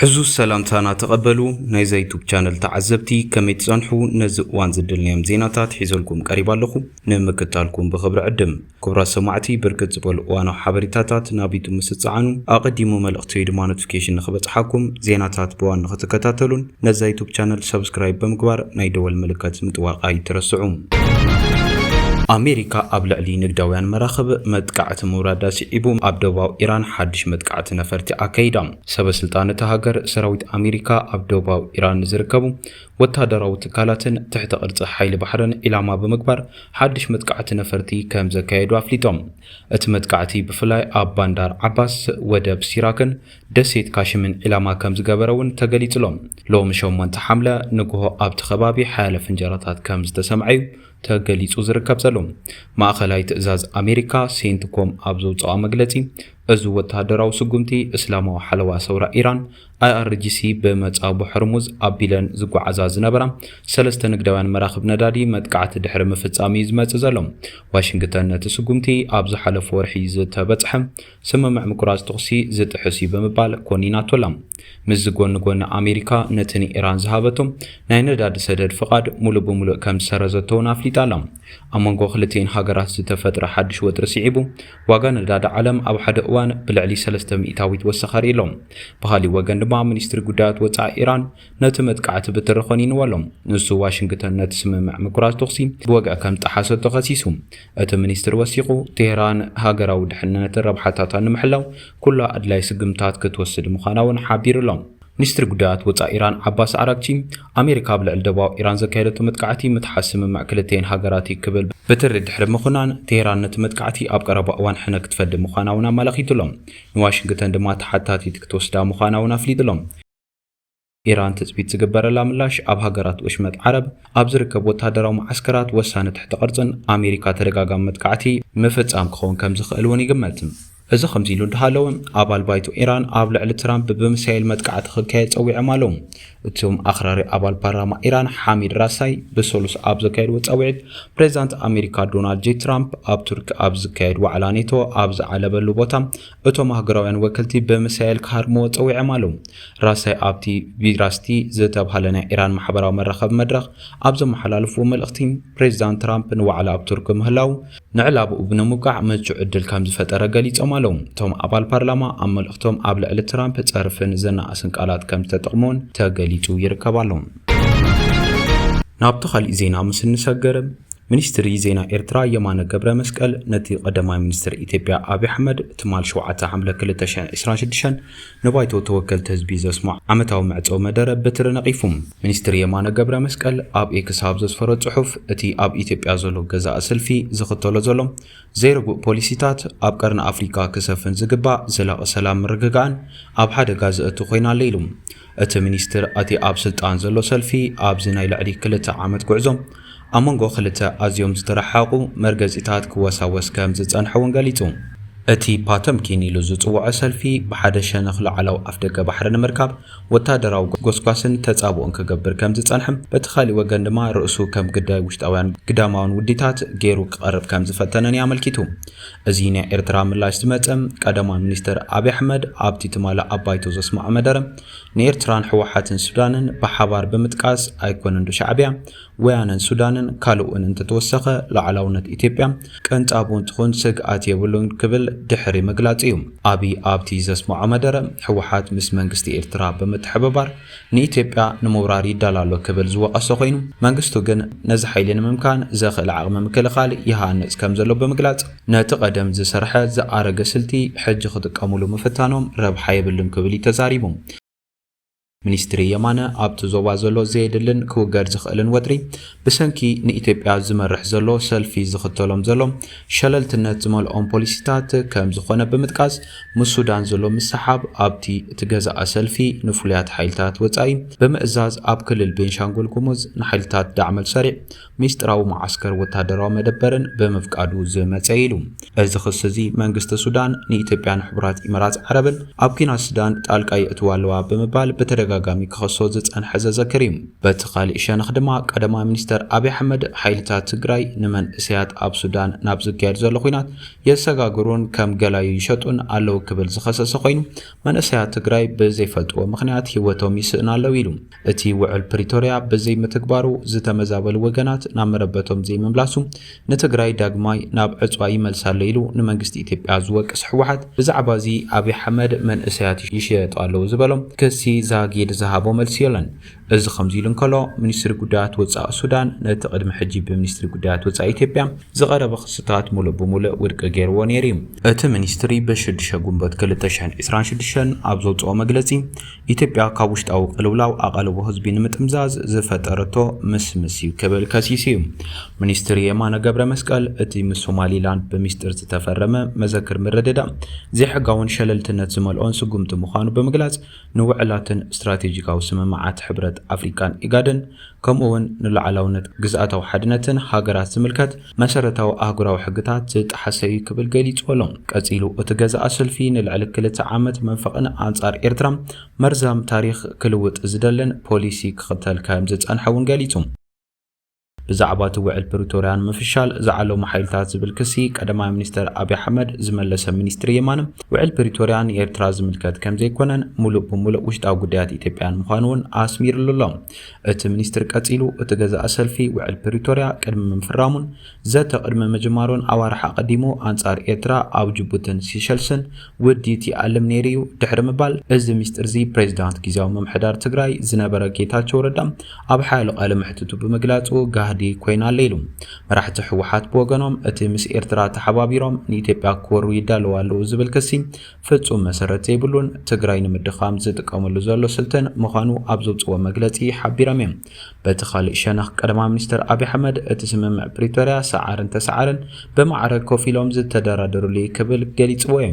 ዕዙዝ ሰላምታና ተቐበሉ ናይዛ ዩቱብ ቻነል ተዓዘብቲ ከመይ ትጸንሑ ነዚ እዋን ዝደልናዮም ዜናታት ሒዘልኩም ቀሪብ ኣለኹ ንምክታልኩም ብኽብሪ ዕድም ክቡራት ሰማዕቲ ብርክት ዝበሉ እዋናዊ ሓበሬታታት ናብ ዩቱብ ምስጽዓኑ ኣቐዲሙ መልእኽቲ ወይ ድማ ኖቲፊኬሽን ንኽበጽሓኩም ዜናታት ብዋን ንኽትከታተሉን ነዛ ዩቱብ ቻነል ሰብስክራይብ ብምግባር ናይ ደወል ምልከት ምጥዋቅ ኣይትረስዑ። ኣሜሪካ ኣብ ልዕሊ ንግዳውያን መራኽብ መጥቃዕቲ ምውራዳ ስዒቡ ኣብ ደቡባዊ ኢራን ሓድሽ መጥቃዕቲ ነፈርቲ ኣካይዳ። ሰበስልጣን እታ ሃገር ሰራዊት ኣሜሪካ ኣብ ደቡባዊ ኢራን ንዝርከቡ ወተሃደራዊ ትካላትን ትሕተ ቅርጺ ሓይሊ ባሕርን ዒላማ ብምግባር ሓድሽ መጥቃዕቲ ነፈርቲ ከም ዘካየዱ ኣፍሊጦም። እቲ መጥቃዕቲ ብፍላይ ኣብ ባንዳር ዓባስ፣ ወደብ ሲራክን ደሴት ካሽምን ዒላማ ከም ዝገበረ እውን ተገሊጹ'ሎ። ሎሚ ሸሞንተ ሓምለ ንግሆ ኣብቲ ከባቢ ሓያለ ፍንጀራታት ከም ዝተሰምዐ'ዩ ተገሊጹ ዝርከብ ዘሎ። ማእከላይ ትእዛዝ ኣሜሪካ፣ ሴንትኮም፣ ኣብ ዘውጽኣ መግለጺ፣ እዚ ወተሃደራዊ ስጉምቲ እስላማዊ ሓለዋ ሰውራ ኢራን፣ IRGC፣ ብመጻጉ ሕርሙዝ ኣቢለን ዝጓዓዛ ዝነበራ ሰለስተ ንግዳውያን መራኽብ ነዳዲ መጥቃዕቲ ድሕሪ ምፍጻም'ዩ ዝመጽእ ዘሎ። ዋሽንግተን ነቲ ስጉምቲ ኣብ ዝሓለፈ ወርሒ ዝተበጽሐ ስምምዕ ምቁራጽ ተኹሲ ዝጥሕስ እዩ ብምባል ኮኒናቶ ኣላ። ምስዚ ጎኒ ጎኒ ኣሜሪካ ነቲ ንኢራን ዝሃበቶ ናይ ነዳዲ ሰደድ ፍቓድ ሙሉእ ብሙሉእ ከም ዝሰረዘቶ እውን ኣፍሊጣ ኣላ። ኣብ መንጎ ክልቲኤን ሃገራት ዝተፈጥረ ሓድሽ ወጥሪ ስዒቡ ዋጋ ነዳዲ ዓለም ኣብ ሓደ እዋን ብልዕሊ ሰለስተ ሚእታዊት ወሰኸ ኣርእዩ ኣሎ። ብኻሊእ ወገን ድማ ሚኒስትሪ ጉዳያት ወጻኢ ኢራን ነቲ መጥቃዕቲ ብትሪ ኾኒንዎ ኣሎ። ንሱ ዋሽንግተን ነቲ ስምምዕ ምቁራጽ ተኹሲ ብወግዒ ከም ዝጠሓሰቶ ከሲሱ። እቲ ሚኒስትሪ ወሲኹ፣ ቴህራን ሃገራዊ ድሕንነትን ረብሓታታን ንምሕላው ኩሉ ኣድላዪ ስጉምትታት ክትወስድ ምዃና'ውን ሓቢሩ'ሎ። ሚኒስትሪ ጉዳያት ወጻኢ ኢራን ዓባስ ዓራግቺ፣ ኣሜሪካ ኣብ ልዕሊ ደቡባዊ ኢራን ዘካየደቶ መጥቃዕቲ ምጥሓስ ስምምዕ ክልቲኤን ሃገራት'ዩ ክብል ብትሪ ድሕሪ ምኹናን፣ ቴህራን ነቲ መጥቃዕቲ ኣብ ቀረባ እዋን ሕነ ክትፈዲ ምዃና'ውን ኣመላኺቱ'ሎ። ንዋሽንግተን ድማ ተሓታቲት ክትወስዳ ምዃና'ውን ኣፍሊጡ'ሎ። ኢራን ትጽቢት ዝግበረላ ምላሽ ኣብ ሃገራት ወሽመጥ ዓረብ ኣብ ዝርከብ ወተሃደራዊ መዓስከራት ወሳኒ ትሕተ ቅርጽን ኣሜሪካ ተደጋጋሚ መጥቃዕቲ ምፍጻም ክኸውን ከም ዝኽእል እውን ይግመት። እዚ ከምዚ ኢሉ እንዳሃለወ ኣባል ባይቶ ኢራን ኣብ ልዕሊ ትራምፕ ብሚሳይል መጥቃዕቲ ክካየድ ጸዊዖም ኣለዉ። እቶም ኣኽራሪ ኣባል ፓርላማ ኢራን ሓሚድ ራሳይ ብሰሉስ ኣብ ዘካየድዎ ጻውዒት ፕሬዝዳንት ኣሜሪካ ዶናልድ ጄ ትራምፕ ኣብ ቱርኪ ኣብ ዝካየድ ዋዕላ ኔቶ ኣብ ዝዓለበሉ ቦታ እቶም ሃገራውያን ወከልቲ ብምሳይል ክሃርምዎ ጸዊዖም ኣለው። ራሳይ ኣብቲ ቪራስቲ ዝተብሃለ ናይ ኢራን ማሕበራዊ መራኸቢ መድረኽ ኣብ ዘመሓላለፍዎ መልእኽቲ፣ ፕሬዚዳንት ትራምፕ ንዋዕላ ኣብ ቱርኪ ምህላው ንዕላማኡ ንምብቃዕ ምቹእ ዕድል ከምዝፈጠረ ገሊጾም ኣለው። እቶም ኣባል ፓርላማ ኣብ መልእኽቶም ኣብ ልዕሊ ትራምፕ ጸርፍን ዘናኣእስን ቃላት ከምዝተጠቕሙ'ውን ተገሊጹ ይርከብ ኣሎ። ናብቲ ካልእ ዜና ምስ እንሰገር ሚኒስትሪ ዜና ኤርትራ የማነ ገብረ መስቀል ነቲ ቀዳማይ ሚኒስትር ኢትዮጵያ ኣብዪ ኣሕመድ ትማል 7 ሓምለ 2026 ንባይቶ ተወከልቲ ህዝቢ ዘስምዖ ዓመታዊ መዕጸዊ መደረ በትሪ ነቒፉ። ሚኒስትር የማነ ገብረ መስቀል ኣብ ኤክስ ኣብ ዘስፈሮ ጽሑፍ፣ እቲ ኣብ ኢትዮጵያ ዘሎ ገዛኢ ስልፊ ዝኽተሎ ዘሎ ዘይርጉእ ፖሊሲታት ኣብ ቀርኒ ኣፍሪቃ ክሰፍን ዝግባእ ዘላቒ ሰላም ምርግጋእን ኣብ ሓደጋ ዘእቱ ኮይኑ ኣሎ ኢሉ። እቲ ሚኒስትር፣ እቲ ኣብ ስልጣን ዘሎ ሰልፊ ኣብዚ ናይ ልዕሊ ክልተ ዓመት ጉዕዞ ኣብ መንጎ ክልተ ኣዝዮም ዝተረሓሓቑ መርገጺታት ክወሳወስ ከም ዝጸንሐ'ውን ገሊጹ። እቲ ፓተምኪን ኢሉ ዝጽውዖ ሰልፊ፣ ብሓደ ሸነኽ ላዕላዊ ኣፍደገ ባሕሪ ንምርካብ ወተሃደራዊ ጎስጓስን ተጻብኦን ክገብር ከም ዝጸንሐ፣ በቲ ካልእ ወገን ድማ ርእሱ ከም ግዳይ ውሽጣውያን ግዳማውያን ውዲታት ገይሩ ክቐርብ ከም ዝፈተነን'ዩ ኣመልኪቱ። እዚ ናይ ኤርትራ ምላሽ ዝመጸ፣ ቀዳማይ ሚኒስተር ኣብይ ኣሕመድ ኣብቲ ትማሊ ኣብ ባይቶ ዘስመዖ መደረ፣ ንኤርትራን ህወሓትን ሱዳንን ብሓባር ብምጥቃስ፣ ኣይኮነንዶ ሻዕብያ፣ ወያነን ሱዳንን ካልእ'ውን እንተተወሰኸ ሉዓላውነት ኢትዮጵያ ቅንጣብ ውን ትኹን ስግኣት የብሉን ክብል ድሕሪ ምግላጹ'ዩ። ኣብይ ኣብቲ ዘስመዖ መደረ፣ ህወሓት ምስ መንግስቲ ኤርትራ ብምትሕብባር፣ ንኢትዮጵያ ንምውራር ይዳሎ ኣሎ ክብል ዝወቐሰ ኮይኑ፣ መንግስቱ ግን ነዚ ሓይሊ ንምምካን ዘኽእል ዓቕሚ ምክልኻል ይሃንጽ ከምዘሎ ብምግላጽ፣ ነቲ ቀደም ዝሰርሐ ዝኣረገ ስልቲ ሕጂ ክጥቀሙሉ ምፍታኖም ረብሓ የብሉን ክብል እዩ ተዛሪቡ። ሚኒስትሪ የማነ ኣብቲ ዞባ ዘሎ ዘየድልን ክውገድ ዝኽእልን ወጥሪ ብሰንኪ ንኢትዮጵያ ዝመርሕ ዘሎ ሰልፊ ዝኽተሎም ዘሎ ሸለልትነት ዝመልኦም ፖሊሲታት ከምዝኾነ ብምጥቃስ፣ ምስ ሱዳን ዘሎ ምስሕሓብ ኣብቲ እትገዝኣ ሰልፊ ንፍሉያት ሓይልታት ወጻኢ ብምእዛዝ ኣብ ክልል ቤንሻንጉል ጉሙዝ ንሓይልታት ዳዕመል ሰሪዕ ሚስጥራዊ መዓስከር ወታደራዊ መደበርን ብምፍቃዱ ዝመጸ ኢዩ ኢሉ። እዚ ክሲ እዚ መንግስቲ ሱዳን ንኢትዮጵያን ሕቡራት ኢመራት ዓረብን ኣብ ኲናት ሱዳን ጣልቃ የእትዋ ኣለዋ ብምባል ብተደጋጋሚ ክኸሶ ዝጸንሐ ዘዘክር ኢዩ። በቲ ካልእ ሸነኽ ድማ ቀዳማይ ሚኒስተር ኣብይ ኣሕመድ ሓይልታት ትግራይ ንመንእሰያት ኣብ ሱዳን ናብ ዝካየድ ዘሎ ኲናት የሰጋግሩን ከም ገላዩ ይሸጡን ኣለው ክብል ዝኸሰሰ ኮይኑ፣ መንእሰያት ትግራይ ብዘይፈልጥዎ ምኽንያት ህይወቶም ይስእኑ ኣለው ኢሉ። እቲ ውዕል ፕሪቶርያ ብዘይምትግባሩ ዝተመዛበሉ ወገናት ናብ መረበቶም ዘይምምላሱ ንትግራይ ዳግማይ ናብ ዕፅዋ ይመልሳ ኣሎ ኢሉ ንመንግስቲ ኢትዮጵያ ዝወቅስ ህወሓት ብዛዕባ እዚ ኣብይ ኣሕመድ መንእሰያት ይሸየጡ ኣለው ዝበሎ ክሲ ዛጊድ ዝሃቦ መልሲ የሎን። እዚ ከምዚ ኢሉ እንከሎ፣ ሚኒስትሪ ጉዳያት ወጻኢ ሱዳን ነቲ ቅድሚ ሕጂ ብሚኒስትሪ ጉዳያት ወጻኢ ኢትዮጵያ ዝቐረበ ክስታት ምሉእ ብምሉእ ውድቂ ገይርዎ ነይሩ'ዩ። እቲ ሚኒስትሪ ብ ሽዱሽተ ግንቦት ክልተ ሽሕን ዕስራን ሽዱሽተን ኣብ ዘውጽኦ መግለጺ፣ ኢትዮጵያ ካብ ውሽጣዊ ቅልውላው ኣቓልቦ ህዝቢ ንምጥምዛዝ ዝፈጠረቶ ምስምስ'ዩ ክብል ከሲሱ'ዩ። ሚኒስትሪ የማነ ገብረመስቀል፣ እቲ ምስ ሶማሊላንድ ብሚስጢር ዝተፈረመ መዘክር ምርድዳእ፣ ዘይሕጋውን ሸለልትነት ዝመልኦን ስጉምቲ ምዃኑ ብምግላጽ፣ ንውዕላትን ስትራቴጂካዊ ስምምዓት ሕብረት ኣፍሪቃን ኢጋድን ከምኡ'ውን ንሉዓላውነት ግዝኣታዊ ሓድነትን ሃገራት ዝምልከት መሰረታዊ ኣህጉራዊ ሕግታት ዝጠሓሰ'ዩ ክብል ገሊጹዎ'ሎ። ቀጺሉ እቲ ገዛኢ ስልፊ ንልዕሊ ክልተ ዓመት መንፈቕን ኣንጻር ኤርትራ መርዛም ታሪኽ ክልውጥ ዝደልን ፖሊሲ ክኽተል ከምዝጸንሐ'ውን ገሊጹ። ብዛዕባ እቲ ውዕል ፕሪቶርያ ንምፍሻል ዝዓለሙ ሓይልታት ዝብል ክሲ ቀዳማይ ሚኒስተር ኣብይ ኣሕመድ ዝመለሰ ሚኒስትሪ የማነ፣ ውዕል ፕሪቶርያ ንኤርትራ ዝምልከት ከምዘይኮነን ምሉእ ብምሉእ ውሽጣዊ ጉዳያት ኢትዮጵያን ምዃኑ'ውን ኣስሚርሉ ኣሎ። እቲ ሚኒስትሪ ቀጺሉ፣ እቲ ገዛኢ ሰልፊ ውዕል ፕሪቶርያ ቅድሚ ምፍራሙን ዘተ ቅድሚ ምጅማሩን ኣዋርሕ ኣቐዲሙ ኣንጻር ኤርትራ ኣብ ጅቡትን ሲሸልስን ውድ ይትኣለም ነይሩ እዩ ድሕሪ ምባል እዚ ሚስጢር'ዚ ፕሬዚዳንት ጊዚያዊ ምምሕዳር ትግራይ ዝነበረ ጌታቸው ረዳ ኣብ ሓያሎ ቃለ መሕትቱ ብምግላጹ ጋህዲ ኮይና ኣለ ኢሉ። መራሕቲ ህወሓት ብወገኖም እቲ ምስ ኤርትራ ተሓባቢሮም ንኢትዮጵያ ክወሩ ይዳለዉ ኣለዉ ዝብል ክሲ ፍጹም መሰረት ዘይብሉን ትግራይ ንምድኻም ዝጥቀምሉ ዘሎ ስልትን ምዃኑ ኣብ ዘውጽእዎ መግለጺ ሓቢሮም እዮም። በቲ ኻሊእ ሸነኽ ቀዳማይ ሚኒስተር ኣብይ ኣሕመድ እቲ ስምምዕ ፕሪቶርያ ሰዓርን ተሰዓርን ብማዕረ ኮፍ ኢሎም ዝተደራደርሉ እዩ ክብል ገሊፅዎ እዩ።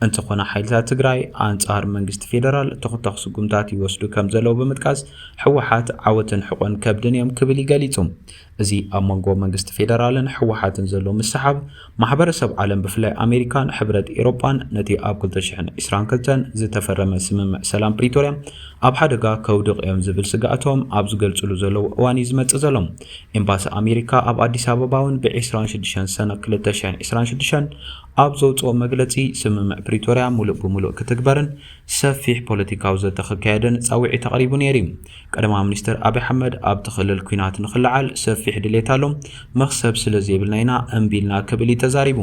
እንተኾነ ሓይልታት ትግራይ ኣንፃር መንግስቲ ፌደራል ተኹታኽ ስጉምታት ይወስዱ ከምዘለው ብምጥቃስ ህወሓት ዓወትን ሕቆን ከብድን እዮም ክብል እዩ ገሊፁ። እዚ ኣብ መንጎ መንግስቲ ፌደራልን ህወሓትን ዘሎ ምስሕሓብ ማሕበረሰብ ዓለም ብፍላይ ኣሜሪካን ሕብረት ኤሮጳን ነቲ ኣብ ክልተ ሽሕን ዕስራን ክልተን ዝተፈረመ ስምምዕ ሰላም ፕሪቶርያ ኣብ ሓደጋ ከውድቕ'ዮም ዝብል ስግኣቶም ኣብ ዝገልጽሉ ዘለዉ እዋን'ዩ ዝመጽእ ዘሎ። ኤምባሲ ኣሜሪካ ኣብ ኣዲስ ኣበባ'ውን ብ ዕስራን ሽዱሽተን ሰነ ክልተ ሽሕን ዕስራን ሽዱሽተን ኣብ ዘውጽኦ መግለጺ ስምምዕ ፕሪቶርያ ምሉእ ብምሉእ ክትግበርን ሰፊሕ ፖለቲካዊ ዘተ ክካየድን ጻውዒት ኣቕሪቡ ነይሩ'ዩ። ቀዳማዊ ሚኒስተር ኣብይ ኣሕመድ ኣብቲ ክልል ኲናት ንኽልዓል ሰፊሕ ድሌት ኣሎ፣ መኽሰብ ስለ ዘይብልና ኢና እምቢ ኢልና ክብል እዩ ተዛሪቡ።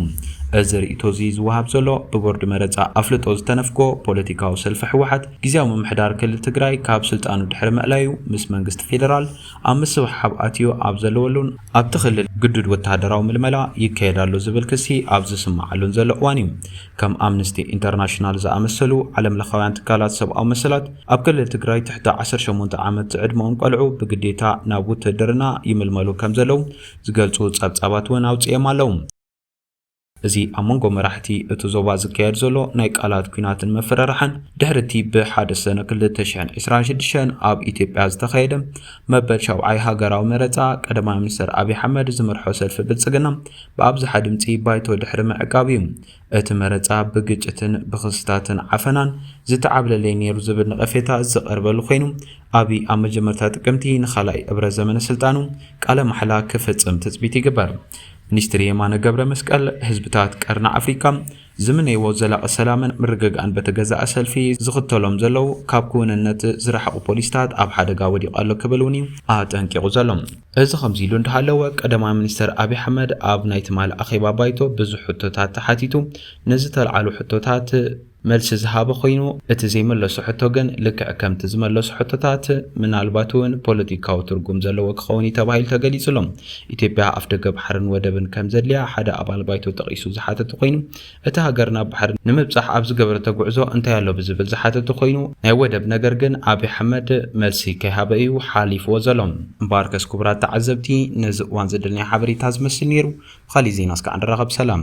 እዚ ርእይቶ'ዚ ዝወሃብ ዘሎ ብቦርድ መረጻ ኣፍልጦ ዝተነፍጎ ፖለቲካዊ ሰልፊ ህወሓት፣ ግዝያዊ ምምሕዳር ክልል ትግራይ ካብ ስልጣኑ ድሕሪ ምእላዩ ምስ መንግስቲ ፌደራል ኣብ ምስሕሓብ ኣትዩ ኣብ ዘለወሉን፣ ኣብቲ ክልል ግዱድ ወተሃደራዊ ምልመላ ይካየድ ኣሎ ዝብል ክሲ ኣብ ዝስመዓሉን ዘሎ እዋን እዩ ከም ኣምንስቲ ኢንተርናሽናል ዝኣመሰሉ ዓለም ለኻውያን ትካላት ሰብኣዊ መሰላት፣ ኣብ ክልል ትግራይ ትሕቲ ዓሰርተ ሸሞንተ ዓመት ዝዕድመኦም ቆልዑ ብግዴታ ናብ ውትህድርና ይምልመሉ ከም ዘለዉ ዝገልጹ ጸብጻባት እውን ኣውጺኦም ኣለዉ። እዚ ኣብ መንጎ መራሕቲ እቲ ዞባ ዝካየድ ዘሎ ናይ ቃላት ኲናትን ምፍርራሕን፣ ድሕሪ እቲ ብሓደ ሰነ ክልተ ሽሕን ዕስራን ሽዱሽተን ኣብ ኢትዮጵያ ዝተኻየደ መበል ሻብዓይ ሃገራዊ መረጻ፣ ቀዳማይ ሚኒስተር ኣብዪ ኣሕመድ ዝመርሖ ሰልፊ ብልጽግና፣ ብኣብዝሓ ድምጺ ባይቶ ድሕሪ ምዕቃብ እዩ እቲ መረጻ ብግጭትን ብኽስታትን ዓፈናን ዝተዓብለለ'ዩ ነይሩ ዝብል ነቐፌታ ዝቐርበሉ ኮይኑ፣ ኣብይ ኣብ መጀመርታ ጥቅምቲ ንኻልኣይ እብረ ዘመነ ስልጣኑ ቃለ ማሕላ ክፍጽም ትጽቢት ይግበር። ሚኒስትር የማነ ገብረመስቀል፣ ህዝብታት ቀርኒ ኣፍሪካ፣ ዝምነይዎ ዘላቂ ሰላምን ምርግጋእን በቲ ገዛኢ ሰልፊ ዝኽተሎም ዘለው ካብ ክውንነት ዝረሓቑ ፖሊሲታት ኣብ ሓደጋ ወዲቑ ኣሎ ክብል እውን እዩ ኣጠንቂቑ ዘሎ። እዚ ከምዚ ኢሉ እንዳሃለወ ቀዳማይ ሚኒስተር ኣብይ ኣሕመድ ኣብ ናይ ትማሊ ኣኼባ ባይቶ ብዙሕ ሕቶታት ተሓቲቱ ንዝተልዓሉ ሕቶታት መልሲ ዝሃበ ኮይኑ እቲ ዘይመለሶ ሕቶ ግን ልክዕ ከምቲ ዝመለሶ ሕቶታት ምናልባት እውን ፖለቲካዊ ትርጉም ዘለዎ ክኸውን እዩ ተባሂሉ ተገሊፁ ኣሎ። ኢትዮጵያ ኣፍደገ ባሕርን ወደብን ከም ዘድልያ ሓደ ኣባል ባይቶ ጠቒሱ ዝሓተተ ኮይኑ፣ እታ ሃገር ናብ ባሕሪ ንምብጻሕ ኣብ ዝገበረቶ ጉዕዞ እንታይ ኣሎ ብዝብል ዝሓተተ ኮይኑ፣ ናይ ወደብ ነገር ግን ኣብይ ኣሕመድ መልሲ ከይሃበ እዩ ሓሊፍዎ ዘሎ። እምበኣርከስ ክቡራት ተዓዘብቲ ነዚ እዋን ዘደለናዮ ሓበሬታ ዝመስል ነይሩ። ብኻሊእ ዜና እስካዕ ንራኸብ ሰላም።